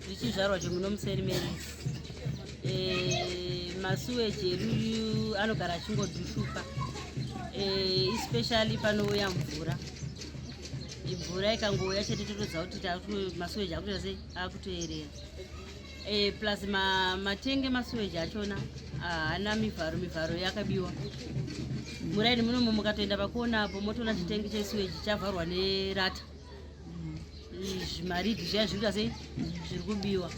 zvichizvarwa zvemuno museri meri eh, masuweji edu anogara achingodushuka eh, especially panouya mvura mvura ikangouya chete totoziva kuti masuweji akutoita sei akutoerera eh, plus matenge masuweji achona haana mivharo mivharo yakabiwa muraini munomo mukatoenda pakuona apo motoona chitenge chesuweji chavharwa nerata zvimaridhi zviya zviri kasei zviri kubiwa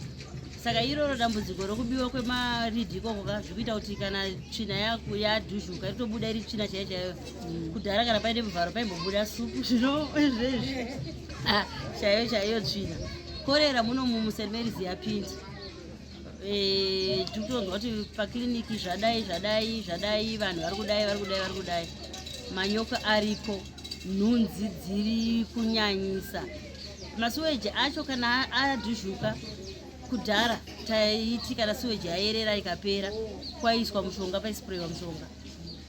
saka iroro dambudziko rokubiwa kwemaridhi ikoko ka zviri kuita kuti kana tsvina yadhuzhuka ritobuda iri tsvina chaiyo chaiyo mm. kudhara kana paine muvharo paimbobuda supu zvino zvezvi ah, chaiyo chaiyo tsvina korera muno mumusermerisi yapindi eh, tiri kutonzwa kuti pakiriniki zvadai zvadai zvadai vanhu vari kudai vari kudai vari kudai manyoka ariko nhunzi dziri kunyanyisa masuweji acho kana adhuzhuka kudhara taiti kana suweji yayerera ikapera kwaiswa mushonga paisprayiwa mushonga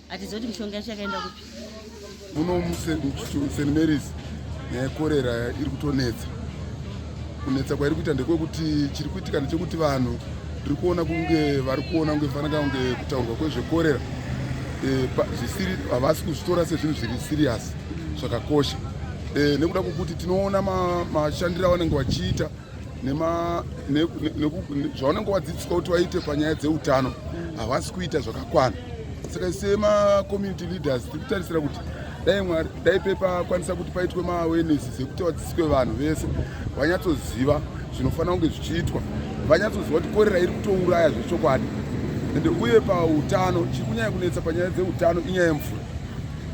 Atizoti mishonga yacho yakaenda kupi? Muno muSt Mary's nyaya yekorera iri kutonetsa. Kunetsa kwairi kuita ndekwekuti chiri kuitika ndechekuti vanhu tiri kuona kunge vari kuona kunge fanaka kunge kutaurwa kwezvekorera eh, zvisiri havasi kuzvitora sezvinhu zviri siriyasi zvakakosha eh, nekuda kwokuti tinoona mashandiro avanenge vachiita zvaunenge wadzidziswa kuti waite panyaya dzeutano havasi kuita zvakakwana saka semacommunity leaders tiri kutarisira kuti dai mwari dai pepa kwanisa kuti paitwe maawenesis ekuti vadzidziswe vanhu vese vanyatsoziva zvinofanira kunge zvichiitwa vanyatsoziva kuti korera iri kutouraya zvechokwadi ende uye pautano chiri kunyanya kunetsa panyaya dzeutano inyaya yemvura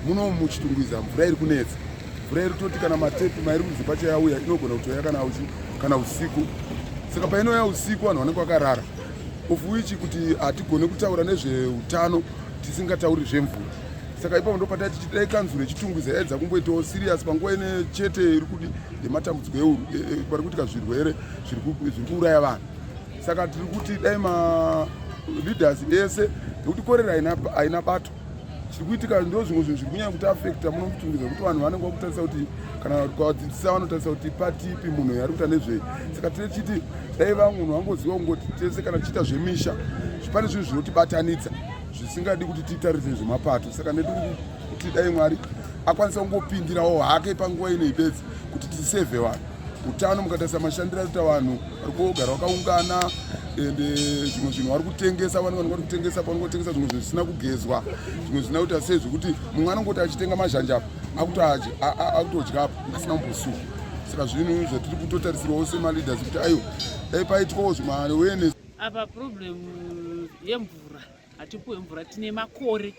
munomu muchitungwiza mvura iri kunetsa mvura iri toti kana matepi mairi kunzi pacha yauya inogona kutouya kana uchi kana usiku saka painouya usiku vanhu vanenge vakarara of which kuti hatigone kutaura nezveutano tisingatauri zvemvura saka ipapo ndopata tichidai kanzuro yechitungwiza yaedza kumboitawo sirius panguva ine chete iri kudi yematambudziko euru e, e, pari kuitika zvirwere zviri kuuraya vanhu saka tiri kuti dai maleaders ese nekuti korera haina bato chiri kuitika ndo zvimwe zvinhu zviri kunyanya kuti afekta muno mutumbi zvekuti vanhu vanenge vakutarisa kuti kana kwadzidzisa vanotarisa kuti pati ipi munhu yari kuita nezvei saka tine chiti dai vamwe munhu vangoziva kungoti tese kana tichiita zvemisha pane zvinhu zvinotibatanidza zvisingadi kuti titarise zvemapato saka netiri kuti dai mwari akwanisa kungopindirawo hake panguva inei bedzi kuti tisevhe vanhu Utano mukatarisa mashandiro aita vanhu vari kugara vakaungana ende eh, zvimwe zvinhu vari kutengesa vanhu vanhu vari kutengesa pano kutengesa zvimwe zvinhu zvisina kugezwa zvimwe zvisina kuita sei zvekuti mumwe anongoti achitenga mazhanje apo akutodya apo asina kumbosuka saka zvinhu zvatiri kutotarisirwawo semaleaders kuti aiwa dai paitwawo zvimaawareness apa problem yemvura hatipuwe mvura tine makore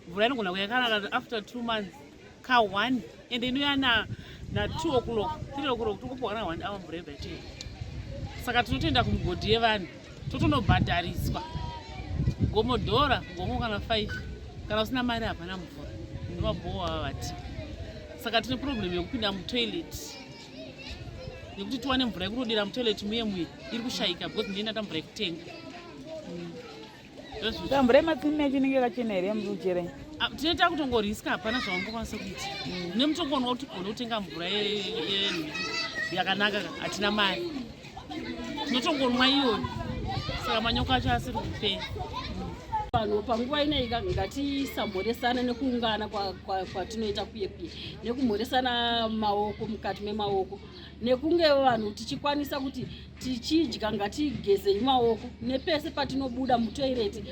mvura inogona kuya kana after two months ka one ende inoya na na two o'clock three o'clock tokupuwa kana one hour mvura yega chete saka tinotoenda kumugodhi yevanhu totonobhadhariswa gomo dhora gomo kana five kana usina mari hapana mvura ndovabhowa vavati saka tine problem yekupinda mutoilet nekuti tiwane mvura yekunodira mutoilet muye muye iri kushaika because ndiyenda ta mvura yekutenga ta mvura yematsinini yacho inenge yakachena here yamuruchere ah, tine takutongoriska hapana zvavangokwanisa kuita mm. nemutongoona kuti gona kutenga mvura yakanaka hatina mari Ndotongonwa iyoni. Saka manyoka acho asiri kupera. vanhu panguva inei ngatisamhoresana nekuungana kwatinoita kuye kuye nekumhoresana maoko mukati memaoko nekunge vanhu tichikwanisa kuti tichidya ngatigezei maoko nepese patinobuda mutoireti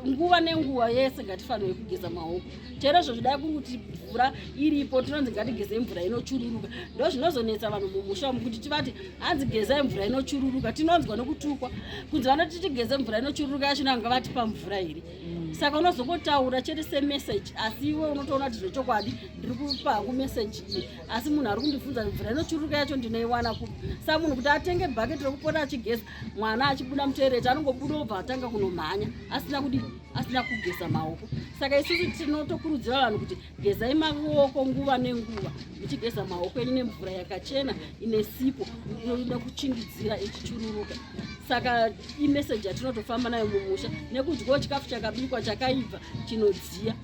nguva nenguva yese ngatifanirwe kugeza maoko chero izvo zvidai kuri kuti mvura iripo tinonzi ngatigeze mvura inochururuka ndo zvinozonetsa vanhu mumusha umu kuti tivati hanzi gezai mvura inochururuka tinonzwa nokutukwa kunzi vanoti tigeze mvura inochururuka yacho nanga vatipa mvura here mm. saka unozongotaura chete semeseji asi iwe unotoona kuti zvechokwadi ndiri kupa hangu meseji iyi asi munhu ari kundibvunza mvura inochururuka yacho ndinoiwana ku sa munhu kuti atenge bhaketi rekupota achigeza mwana achibuda mutoereti anongobuda obva atanga kunomhanya asina kudii asina kugeza maoko saka isusu tinotokurudzira vanhu kuti gezai maoko nguva nenguva muchigeza maoko enyu nemvura yakachena ine sipo inoda kuchingidzira ichichururuka saka imeseji yatinotofamba nayo mumusha nekudyawo chikafu chakabikwa chakaibva chinodziya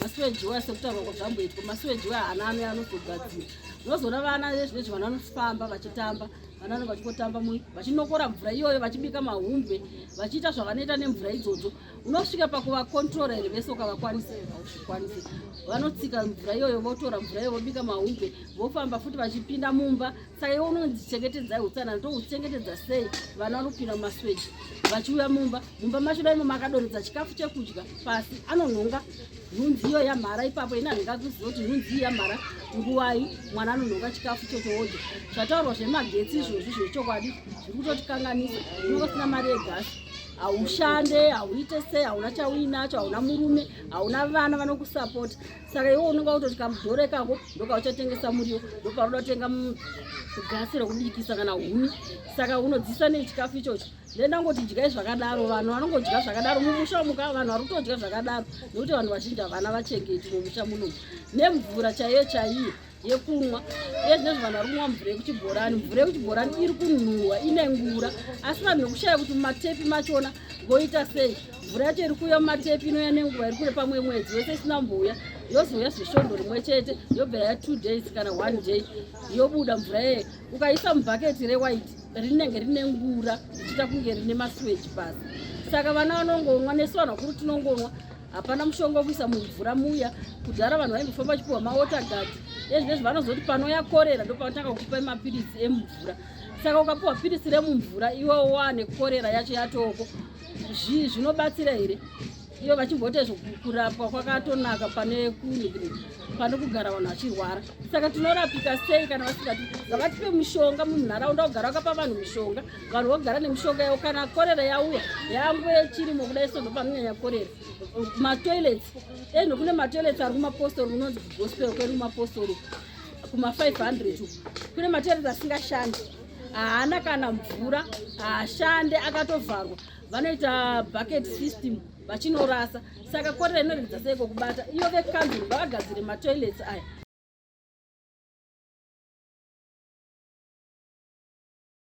masuweji waya sekutaurwa ko zvamboitwa masuweji waya ana ano anozogadzira unozoona vana vezvinezvi vana vanofamba vachitamba vanana vachingotamba mu vachinokora mvura iyoyo vachibika mahumbwe vachiita zvavanoita nemvura idzodzo unosvika pakuvakontrora here vese ukavakwanisa hauzvikwanisi vanotsika mvura iyoyo votora mvura iyoyo vobika mahumbwe vofamba futi vachipinda mumba saka iwe unonzichengetedzai utsanana touchengetedza sei vana vanopinda mumasweji vachiuya mumba mumba macho daimo makadoredza chikafu chekudya pasi anonhonga nhunzi iyo yamhara ipapo ini handinga kuziva kuti nhunzi iyi yamhara nguvai mwana anonhoka chikafu chotoodya zvataurwa zvemagetsi izvozvi zvechokwadi zviri kutotikanganisa unenge usina mari yegasi haushande hauite sei hauna chauinacho hauna murume hauna vana vanokusapota saka iwe unenge kutoti kamudhoro ikako ndokauchatengesa muriwo ndoparoda kutenga gasi rekubikisa kana huni saka unodzisa nechikafu ichocho then ndangoti dyai zvakadaro vanhu vanongodya zvakadaro mumusha muka vanhu vari kutodya zvakadaro nekuti vanhu vazhinji havana vachengeti mumusha munomu nemvura chaiyo chaiyo yekumwa iye zvinezvo vanhu vari kumwa mvura yekuchibhorani mvura yekuchibhorani iri kunhuhwa ine ngura asi vanhu vekushaya kuti mumatepi machona voita sei mvura yacho iri kuuya mumatepi inouya nenguva iri kure pamwe mwedzi yose isina mbouya yozouya zvesvondo rimwe chete yobva ya two days kana one day yobuda mvura yeye ukaisa mubhaketi rewaiti rinenge rine ngura richiita kunge rine masweji pasi saka vana vanongonwa nesu vanhu vakuru tinongonwa hapana mushonga wekuisa mumvura muya kudhara vanhu vaingofamba vachipiwa mawatergard ezvinezvi vanozoti panoya korera ndopavatanga kukupa mapiritsi emumvura saka ukapiwa piritsi remumvura iwe wane korera yacho yatoko zvinobatsira here iyo vachimboita kurapwa kwakatonaka pane pane kugara vanhu vachirwara saka tinorapika sei kana vasingati ngavatipe mushonga munharaunda kugara wakapa vanhu mushonga vanhu vogara nemushonga yavo kana korera yauya yange chirimo kudai sondo panonyanya korera matoilets eno kune matoilets ari kumapostori unonzi kugospel kwedu kumapostori kuma 500 kune matoilets asingashandi haana kana mvura haashande akatovharwa vanoita bucket system vachinorasa saka korera inoregedza sei kokubata iyo vekanzuru ngavagadzire matoilets aya